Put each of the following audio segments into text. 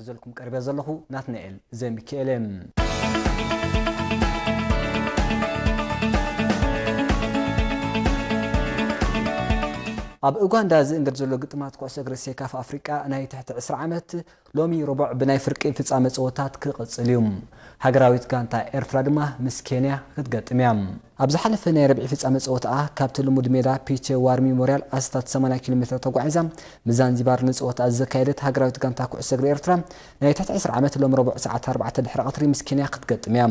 ሒዘልኩም ቀሪበ ዘለኹ ናትናኤል ዘሚኪኤል እየ። ኣብ ኡጋንዳ ዝእንገድ ዘሎ ግጥማት ኩዕሶ እግሪ ሴካፋ ኣፍሪቃ ናይ ትሕቲ ዕስራ ዓመት ሎሚ ሮቡዕ ብናይ ፍርቂ ፍጻመ ጸወታት ክቕጽል እዩ። ሃገራዊት ጋንታ ኤርትራ ድማ ምስ ኬንያ ክትገጥም እያ። ኣብ ዝሓለፈ ናይ ረብዒ ፍጻመ ጸወታኣ ካብቲ ልሙድ ሜዳ ፒቼ ዋር ሚሞርያል ኣስታት ሰማንያ ኪሎ ሜትር ተጓዒዛ ምስ ዛንዚባር ንጸወታኣ ዘካየደት ሃገራዊት ጋንታ ኩዕሶ እግሪ ኤርትራ ናይ ትሕቲ ዕስራ ዓመት ሎሚ ረቡዕ ሰዓት ኣርባዕተ ድሕሪ ቀትሪ ምስ ኬንያ ክትገጥም እያ።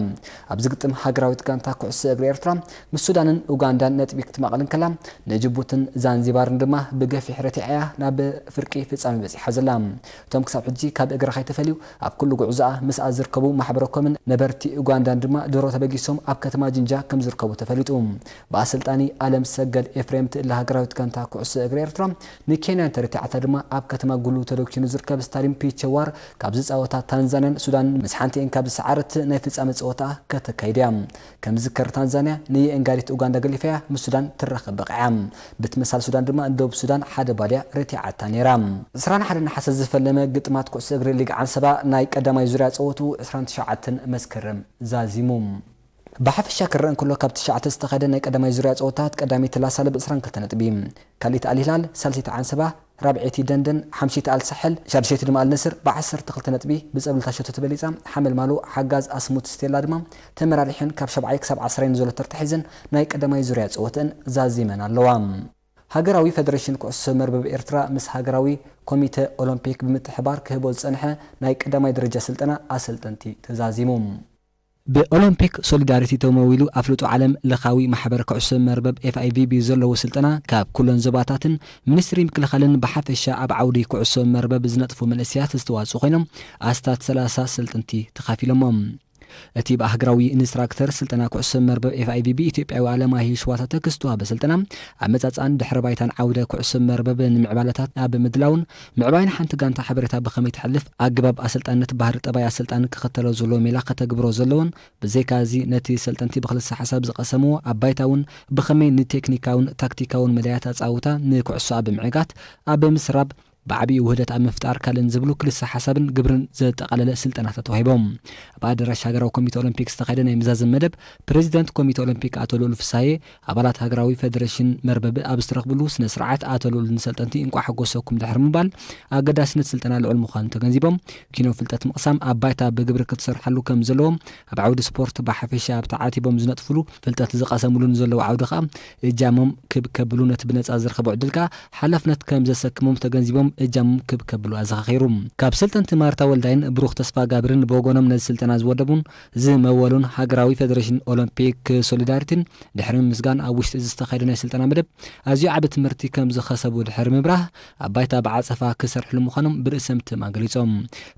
ኣብዚ ግጥም ሃገራዊት ጋንታ ኩዕሶ እግሪ ኤርትራ ምስ ሱዳንን ኡጋንዳን ነጥቢ ክትማቕል እንከላ ንጅቡትን ዛንዚባርን ድማ ብገፊሕ ረቲዓ እያ ናብ ፍርቂ ፍጻመ በጺሓ ዘላ። እቶም ክሳብ ሕጂ ካብ እግራ ከይተፈልዩ ኣብ ኩሉ ጉዕዞኣ ምስኣ ዝርከቡ ማሕበረኮምን ነበርቲ ኡጋንዳን ድማ ድሮ ተበጊሶም ኣብ ከተማ ጅንጃ ከምዝርከቡ ተፈሊጡ። ብኣሰልጣኒ ኣለምሰገድ ኤፍሬም ትእለ ሃገራዊት ጋንታ ኩዕሶ እግሪ ኤርትራ ንኬንያ እንተረቲዓታ ድማ ኣብ ከተማ ጉሉ ተዶኪኑ ዝርከብ ስታድዩም ፒቸዋር ካብ ዝጻወታ ታንዛንያን ሱዳንን ምስ ሓንቲኤን ካብ ዝሰዓረት ናይ ፍጻመ ጸወታኣ ከተካይድ'ያ። ከም ዝዝከር ታንዛንያ ንየእንጋዲት ኡጋንዳ ገሊፋያ ምስ ሱዳን ትራኸብ በቒዓ። ብትመሳል ሱዳን ድማ ንደቡብ ሱዳን ሓደ ባድያ ረቲዓታ ነይራ። ዕስራን ሓደን ነሓሰ ዝፈለመ ግጥማት ኩዕሶ እግሪ ሊግ ዓንሰባ ናይ ቀዳማይ ዙርያ ጸወትኡ ዕስራን ትሽዓተን መስከረም ዛዚሙ። ብሓፈሻ ክረኣ እንከሎ ካብ ትሽዓተ ዝተኻየደ ናይ ቀዳማይ ዙርያ ጸወታታት ቀዳመይቲ ላሳል ብ ዕስራን ክልተ ነጥቢ፣ ካልኣይቲ ኣልሂላል፣ ሳልሰይቲ ዓንሰባ፣ ራብዐይቲ ደንደን፣ ሓምሸይቲ ኣልሳሕል፣ ሻድሸይቲ ድማ ኣልነስር ብዓሰርተ ክልተ ነጥቢ ብጸብለልታ ሸቶ ተበሊጻ። ሓመልማሎ ሓጋዝ ኣስሙት ስቴላ ድማ ተመራሪሐን ካብ ሻብዓይ ክሳብ ዓስራይ ንዘሎ ተርታ ሒዘን ናይ ቀዳማይ ዙርያ ጸወተእን ዛዚመን ኣለዋ። ሃገራዊ ፈደረሽን ኩዕሶ መርበብ ኤርትራ ምስ ሃገራዊ ኮሚተ ኦሎምፒክ ብምትሕብባር ክህቦ ዝጸንሐ ናይ ቀዳማይ ደረጃ ስልጠና ኣሰልጠንቲ ተዛዚሙ። ብኦሎምፒክ ሶሊዳሪቲ ተመዊሉ ኣፍልጦ ዓለም ለኻዊ ማሕበር ኩዕሶ መርበብ፣ FIVB፣ ዘለዎ ስልጠና ካብ ኩለን ዞባታትን ሚኒስትሪ ምክልኻልን ብሓፈሻ ኣብ ዓውዲ ኩዕሶ መርበብ ዝነጥፉ መንእሰያት ዝተዋፅኡ ኮይኖም ኣስታት ሰላሳ ኣሰልጥንቲ ተኻፊሎሞ። እቲ ብኣህግራዊ ኢንስትራክተር ስልጠና ኩዕሶ መርበብ FIVB ኢትዮጵያዊ ኣለማየሁ ሽዋታተክ ዝተዋህበ ስልጠና ኣመፃፅኣን ድሕረ ባይታን ዓውደ ኩዕሶ መርበብ ንምዕባለታት ኣብ ምድላውን ምዕባይ ንሓንቲ ጋንታ ሓበሬታ ብኸመይ ተሕልፍ፣ ኣገባብ ኣሰልጣንነት ባህሪ ጠባይ ኣሰልጣኒ ክኽተሎ ዘለዎ ሜላ ከተግብሮ ዘለዎን ብዘይካ እዚ ነቲ ሰልጠንቲ ብክልሰ ሓሳብ ዝቐሰምዎ ኣብ ባይታ እውን ብኸመይ ንቴክኒካውን ታክቲካውን መዳያት ኣጻውታ ንኩዕሶኣ ብምዕጋት ኣብ ምስራብ ብዓቢኡ ውህደት ኣብ ምፍጣር ካልእን ዝብሉ ክልሰ ሓሳብን ግብርን ዘጠቓለለ ስልጠናታት ተዋሂቦም ኣብ ኣደራሽ ሃገራዊ ኮሚተ ኦሎምፒክ ዝተኻየደ ናይ መዛዘሚ መደብ ፕረዚደንት ኮሚተ ኦሎምፒክ ኣቶ ልኡል ፍስሃየ ኣባላት ሃገራዊ ፈደረሽን መርበብ ኣብ ዝተረኽብሉ ስነ ስርዓት ኣቶ ልኡል ንሰልጠንቲ እንቋዕ ሓጎሰኩም ድሕሪ ምባል ኣገዳስነት ስልጠና ልዑል ምዃኑ ተገንዚቦም ኪኖ ፍልጠት ምቕሳም ኣብ ባይታ ብግብሪ ክትሰርሓሉ ከም ዘለዎ ኣብ ዓውዲ ስፖርት ብሓፈሻ ኣብ ተዓቲቦም ዝነጥፍሉ ፍልጠት ዝቐሰምሉ ንዘለዉ ዓውዲ ከኣ እጃሞም ክብ ከብሉ ነቲ ብነጻ ዝረኸቡ ዕድል ከኣ ሓላፍነት ከም ዘሰክሞም ተገንዚቦም እጃሞም ክብ ከብሉ ኣዘኻኺሩ። ካብ ሰልጠንቲ ማርታ ወልዳይን ብሩኽ ተስፋጋብርን ብወገኖም ነዚ ስልጠና ዝወደቡን ዝመወሉን ሃገራዊ ፈደረሽን ኦሎምፒክ ሶሊዳሪቲን ድሕሪ ምምስጋን ኣብ ውሽጢ እዚ ዝተኻየደ ናይ ስልጠና መደብ ኣዝዩ ዓቢ ትምህርቲ ከምዝኸሰቡ ድሕሪ ምብራህ ኣብ ባይታ ብዓጸፋ ክሰርሕሉ ምዃኖም ብርእሰ ምትእምማን ገሊጾም።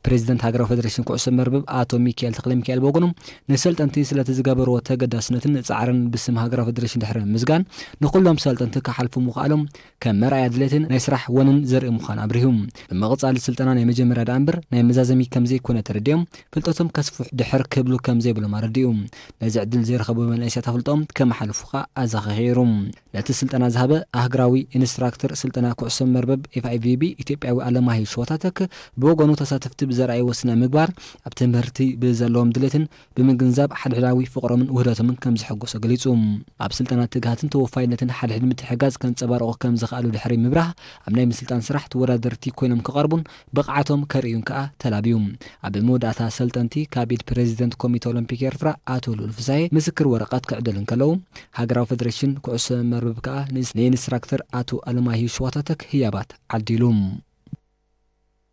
ፕረዚደንት ሃገራዊ ፈደረሽን ኩዕሶ መርበብ ኣቶ ሚኪኤል ተኽለሚካኤል ብወገኑ ንሰልጠንቲ ስለቲ ዝገበርዎ ተገዳስነትን ጻዕርን ብስም ሃገራዊ ፈደረሽን ድሕሪ ምምስጋን ንኹሎም ሰልጠንቲ ክሓልፉ ምኽኣሎም ከም መርኣያ ድሌትን ናይ ስራሕ ወንን ዘርኢ ምዃኑ ኣብሪሁ። ብምቕጻል ስልጠና ናይ መጀመርያ ደኣ እምበር ናይ መዛዘሚ ከም ዘይኮነ ተረዲኦም ፍልጠቶም ከስፍሑ ድሕር ክብሉ ከም ዘይብሎም ኣረዲኡ። ነዚ ዕድል ዘይረኸቡ መናእሰያት ኣፍልጠኦም ከመሓልፉ ከኣ ኣዘኻኺሩ። ነቲ ስልጠና ዝሃበ ኣህግራዊ ኢንስትራክተር ስልጠና ኩዕሶ መርበብ ኤፍኣይቪቢ ኢትዮጵያዊ ኣለማሂ ሸዋታተክ ብወገኑ ተሳተፍቲ ብዘርኣይዎ ስነ ምግባር ኣብ ትምህርቲ ብዘለዎም ድሌትን ብምግንዛብ ሓድሕዳዊ ፍቕሮምን ውህደቶምን ከም ዝሕጎሶ ገሊጹ። ኣብ ስልጠና ትግሃትን ተወፋይነትን ሓድሕድ ምትሕጋዝ ከንጸባርቑ ከም ዝኸኣሉ ድሕሪ ምብራህ፣ ኣብ ናይ ምስልጣን ስራሕ ተወዳደርቲ ኮይኖም ክቐርቡን ብቕዓቶም ከርእዩን ከኣ ተላብዩ። ኣብ መወዳእታ ሰልጠንቲ ካብ ኢድ ፕረዚደንት ኮሚተ ኦሎምፒክ ኤርትራ ኣቶ ልኡል ፍሳሄ ምስክር ወረቐት ክዕደሉ እንከለዉ፣ ሃገራዊ ፈደረሽን ኩዕሶ መርበብ ከኣ ንኢንስትራክተር ኣቶ ኣለማየሁ ሸዋታተክ ህያባት ዓዲሉ።